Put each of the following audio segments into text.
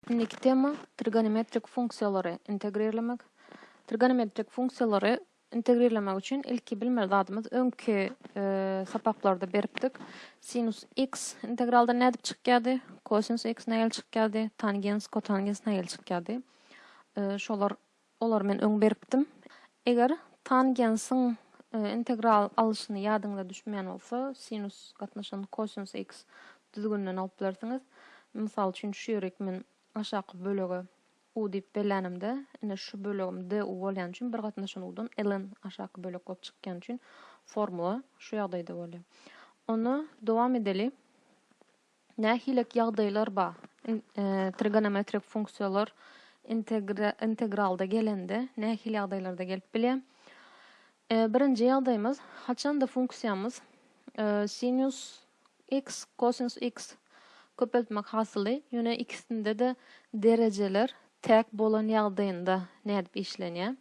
Indiki tema, trigonometrik funksiýalary integrirlemek. Trigonometrik funksiýalary integrirlemek üçin ilki bilmeli zadymyz öňki sapaklarda beripdik. Sinus x integraldan nädip çykýardy? Kosinus x nägeli çykýardy? Tangens, kotangens nägeli çykýardy? Şolar Olary men öň beripdim. Eger tangensiň integral alnyşyny ýadyňyza düşmeýän bolsa, sinus gatnaşygyny kosinus x düzgüninden alyp bilersiňiz. Mysal üçin, şu ýerik men aşaky bölege u diýip bellänimde, ine şu bölegim du bolýan üçin bir gatnaşan u-dan ln aşaky bölek bolup çykýan üçin formula şu ýagdaýda bolýar. Onda dowam edeli. Nähilek ýagdaýlar ba trigonometrik funksiýalar integralda gelende nähili ýagdaýlarda gelip bilýär? Birinji ýagdaýymyz, haçanda funksiýamyz sinus x, kosinus x köpeltmek hasyly, ýöne ikisinde-de derejeler täk bolan ýagdaýynda nädip işlenýär?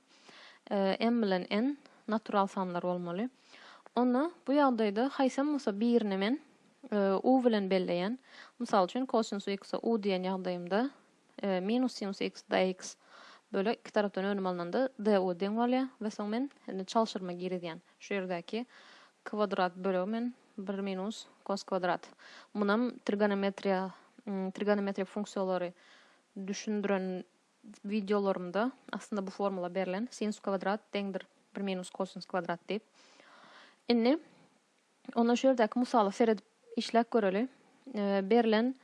M bilen n natural sanlar bolmaly. Onda bu ýagdaýda haýsam bolsa birini men U bilen belleýän. Mysal üçin, kosinus x-e u diýen ýagdaýymda, minus sinus x dx bölek iki tarapdan önüm alnanda du deň bolýar we soň men indi çalşyrma girizýän. Şu ýerdäki kwadrat bölegi men bir minus kos kwadrat. Munam trigonometriýa, trigonometrik funksiýalary düşündiren wideolarymda aslynda bu formula berlen, sinus kwadrat deňdir bir minus kosinus kwadrat diýip. Indi Onda şu ýerdäki mysala seredip işläp göreli. Berlen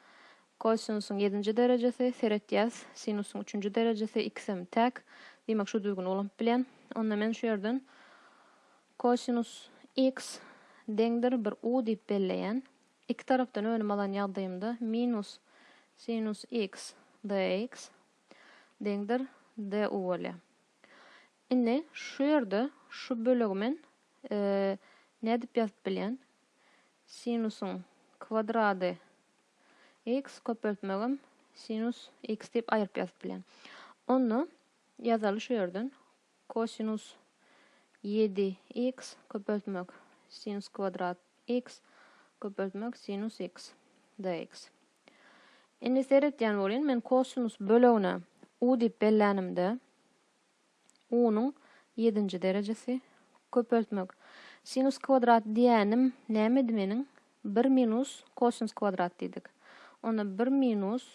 kosinusyň ýedinji derejesi, seretýäs, sinusyň üçünji derejesi, ikisem täk. Diýmek, şu düzgüni ulanyp bilýän. Onda men şu ýerden kosinus x deňdir bir u diýip belleýän. Iki tarapdan önüm alan ýagdaýymda minus sinus x dx deňdir du bolýar. Indi şu ýerde şu bölegi men nädip ýazyp bilýän? Sinusyň kwadrady x köpeltmegem sinus x diýip aýryp ýazyp bilýän. Onda ýazaly şu ýerden kosinus ýedi x köpeltmek sinus kwadrat x köpeltmek sinus x dx. Indi seretýän bolýyn men kosinus bölegine u diýip bellänimde Unuň ýedinji derejesi, köpeltmek. Sinus kwadrat diýýänim nämedi meniň? Bir minus kosinus kwadrat diýdik. Onda bir minus,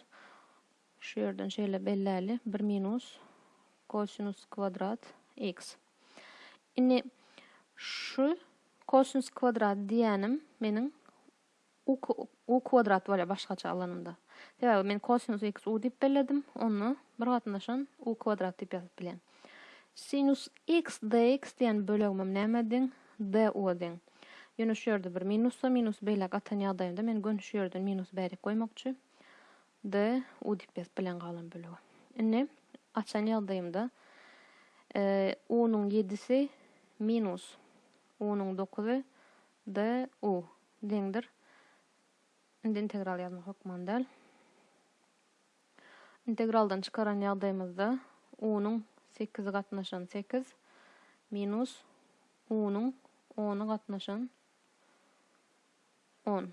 şu ýerden şeýle belläli, bir minus kosinus kwadrat x. Indi şu kosinus kwadrat diýýänim meniň U U kwadrat bolýar başgaça alanyňda. Sebäbi men kosinus x u diýip belledim, onda bir gatnaşan u kwadrat diýip ýazyp bilýän. Sinus x dx diýen bölegimem nämä deň? D u a deň. Ýöne şu ýerde bir minusda minusy beýläk atan ýagdaýymda men göni şu ýerden minusy bärik goýmakçy. D u diýip ýazyp bilýän galan bölegi. Indi açan ýagdaýymda e, u-nyň ýedisi minus u-nyň dokuzy D. U. Deňdir. Indi integral ýazmak hökman däl. Integraldan çykaran ýagdaýymyzda U-nyň sekizi gatnaşan sekiz minus U-nyň ony gatnaşan on.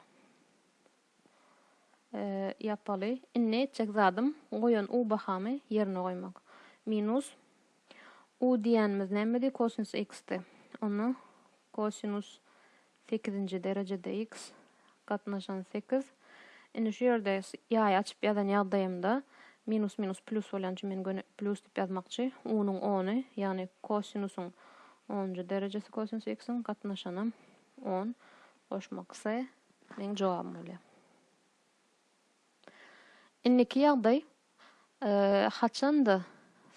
ýapaly. Indi etjek zadym goýan u bahamy ýerine goýmak. Minus u diýýänimiz nämedi? Kosinus x-di. Onda kosinus sekizinji derejede x gatnaşan sekiz. Indi şu ýerde ýaý açyp ýazan ýagdaýymda minus minus plýus bolýan üçin men göni plýus diýip ýazmakçy. U-nyň ony, ýagny kosinusyň onunjy derejesi kosinus x-iň gatnaşanam on. Goşmaksy meň jogabym bolýar. Indiki ýagdaý haçanda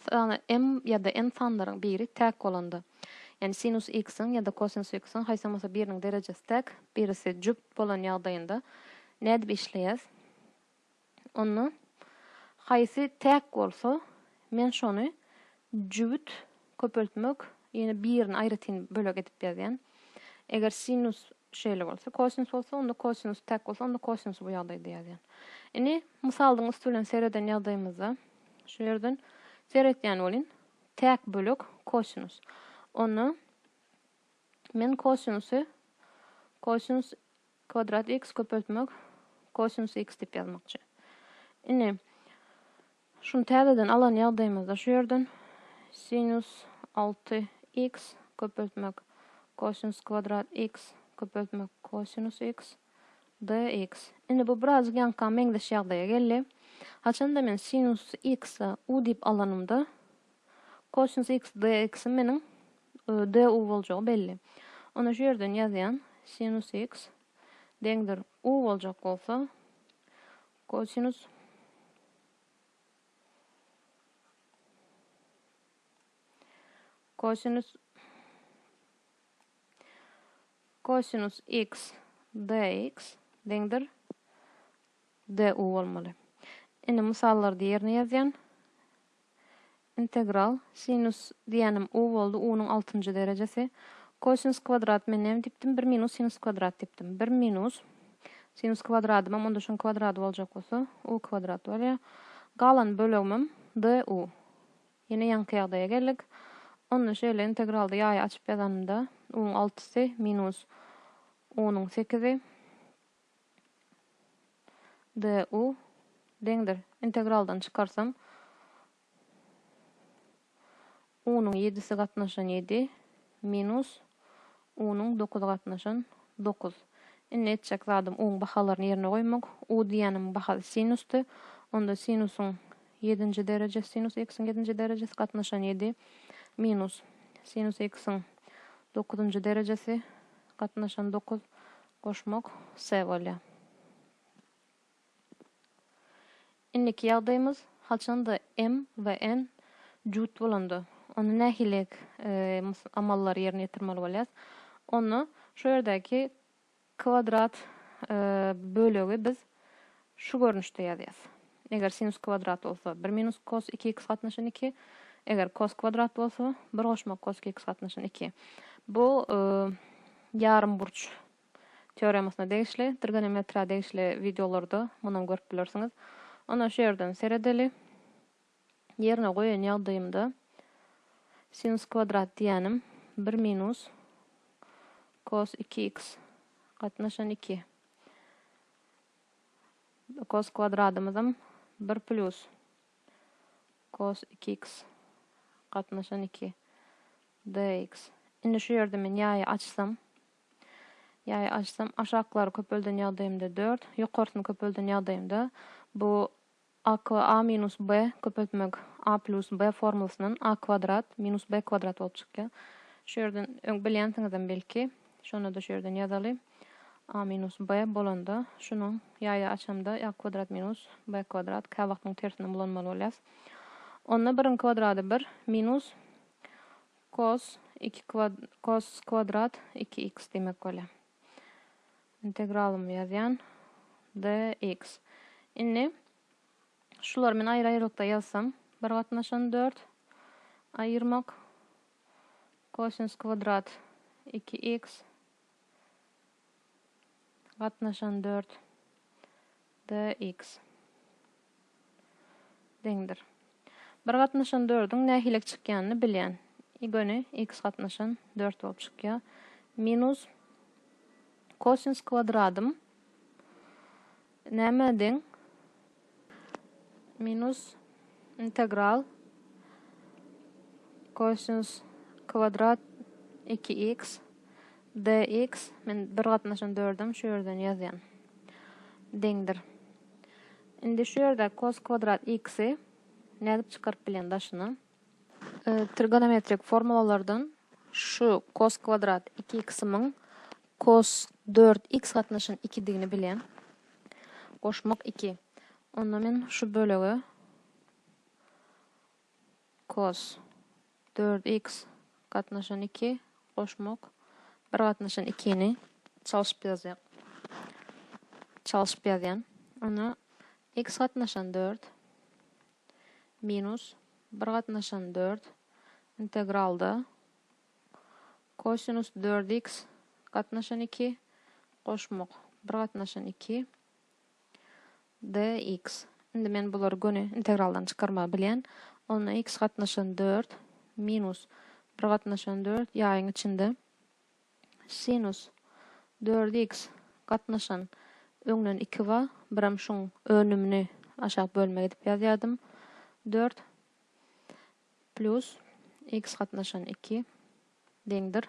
sany m ýa-da n sanlaryň biri täk bolanda, ýagny sinus x-iň ýa-da kosinus x-iň haýsam bolsa biriniň derejesi täk, birisi jübt bolan ýagdaýynda nädip işleýäs? Onda haýsy täk bolsa, men şony jübüt köpeltmek, ýene birini aýratyn bölek edip ýazýan. Eger sinus şeýle bolsa, kosinus bolsa, onda kosinus täk bolsa, onda kosinusy bu ýagdaýda ýazýan. Indi mysalyň üsti bilen sereden ýagdaýymyzda, şu ýerden seretýän bolýn, täk bölek kosinus. Onda men kosinusy, kosinus Kwadrat x köpeltmek kosinus x diýip ýazmakçy. Indi şuny täzeden alan ýagdaýymyzda şu ýerden sinus alty x köpeltmek kosinus kwadrat x köpeltmek kosinus x dx. Indi bu birazjyk ýaňyka meňzeş ýagdaýa geldi. Haçanda men sinus x-a u diýip alanymda, Kosinus x dx-iň meniň du boljagy belli. Onda şu ýerden ýazýan, sinus x deňdir u boljak bolsa, kosinus kosinus kosinus x dx deňdir du bolmaly. Indi mysallarda ýerine ýazýan. Integral, sinus diýýänim u boldy, u-nyň altynjy derejesi. Kosinus kwadrat men näme diýipdim? Bir minus sinus kwadrat diýipdim. Bir minus sinus kwadradymam onda şoň kwadrat boljak bolsa, u kwadrat bolýar. Galan bölegimem du. Ýene ýaňky ýagdaýa geldik. Onda şeýle integralda ýaýy açyp ýazanymda, u-nyň altysy minus u-nyň sekizi. DU deňdir. Integraldan çykarsam U-nyň ýedisi gatnaşan ýedi minus U-nyň dokuzy gatnaşan dokuz. Indi etjek zadym U-nyň bahalaryny ýerine goýmak. U diýýänimiň bahasy sinusdy. Onda sinusyň ýedinji derejesi, sinus x-iň ýedinji derejesi gatnaşan ýedi minus sinus x-iň dokuzynjy derejesi gatnaşan dokuz Goşmak se bolýa. Indiki ýagdaýymyz haçanda m we n jüt bolanda, onda nähili amallary ýerine ýetirmeli bolýas? Onda şu ýerdäki kwadrat bölegi biz şu görnüşde ýazýas. Eger sinus kwadrat bolsa, bir minus kos iki iks gatnaşyn iki. Eger kos kwadrat bolsa, bir goşmak kos iki iks gatnaşyn iki. Bu ýarymburç teoremasyna degişli, trigonometriýa degişli wideolarda munam görüp bilersiňiz. Onda şu ýerden seredeli. ýerine goýan ýagdaýymda sinus kwadrat diýýänim bir minus kos iki x gatnaşan iki. Kos kwadradymyzam bir plýus kos iki x gatnaşan iki dx. Indi şu ýerde men ýaýy açsam, ýaýy açsam, aşaklary köpelden ýagdaýymda dört, ýokarsyny köpelden ýagdaýymda bu Akw a minus b köpeltmek a plus b formulasyndan a kwadrat minus b kwadrat bolup çykýar. Şu ýerden öň bilýänsiňizem belki. Şonda-da şu ýerden ýazaly. a minus b bolanda şunuň ýaýa açamda a kwadrat minus b kwadrat käwagt muň tersinden bulanmaly bolýas. Onda biriň kwadrady bir minus kos iki kos kwadrat iki x diýmek bolýar. Integralymy ýazýan. Dx. Indi şulary men aýry-aýrylykda ýazsam, bir gatnaşan dört. Aýyrmak. Kosinus kwadrat iki x. Gatnaşan dört. DX. Deňdir. Bir gatnaşan dördüň nähilek çykýanyny bilýän. Y göni X gatnaşan dört bolup çykýar. Minus Kosins kwadradym nämä deň? Minus integral Kosins kwadrat 2X DX, men bir gatnaşan dördem şu ýerden ýazýan. Deňdir. Indi şu ýerde kos kwadrat x-i nädip çykaryp bilýän daşyna? Trigonometrik formulalardan şu kos kwadrat 2x-imiň kos 4x gatnaşan 2-digini bilýän. Goşmak 2. Onda men şu bölege kos Dört iks gatnaşan iki goşmak bir gatnaşan ikini çalşyp ýazýar. Çalşyp ýazýan. Onda iks gatnaşan dört minus bir gatnaşan dört integralda kosinus dört iks gatnaşan iki goşmak bir gatnaşan iki Dx. Indi men bulary göni integraldan çykarmagy bilýän. Onda x gatnaşan dört minus bir gatnaşan dört ýaýyň içinde sinus dört x gatnaşan öňden iki bar, birem şuň önümini aşak bölmek edip ýazýardym, dört plus x gatnaşan iki deňdir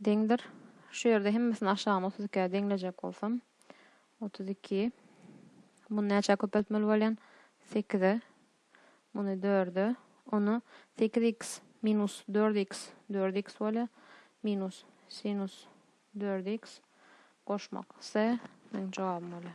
Deňdir. Şu ýerde hemmesini aşagyny otuz ikä deňlejek bolsam, otuz iki. Muny näçä köpeltmeli bolýan? Sekize. Muny dörde. Ony sekiz iks minus dört iks, dört iks bolýar, minus sinus dört iks goşmak se meniň jogabym bolýar.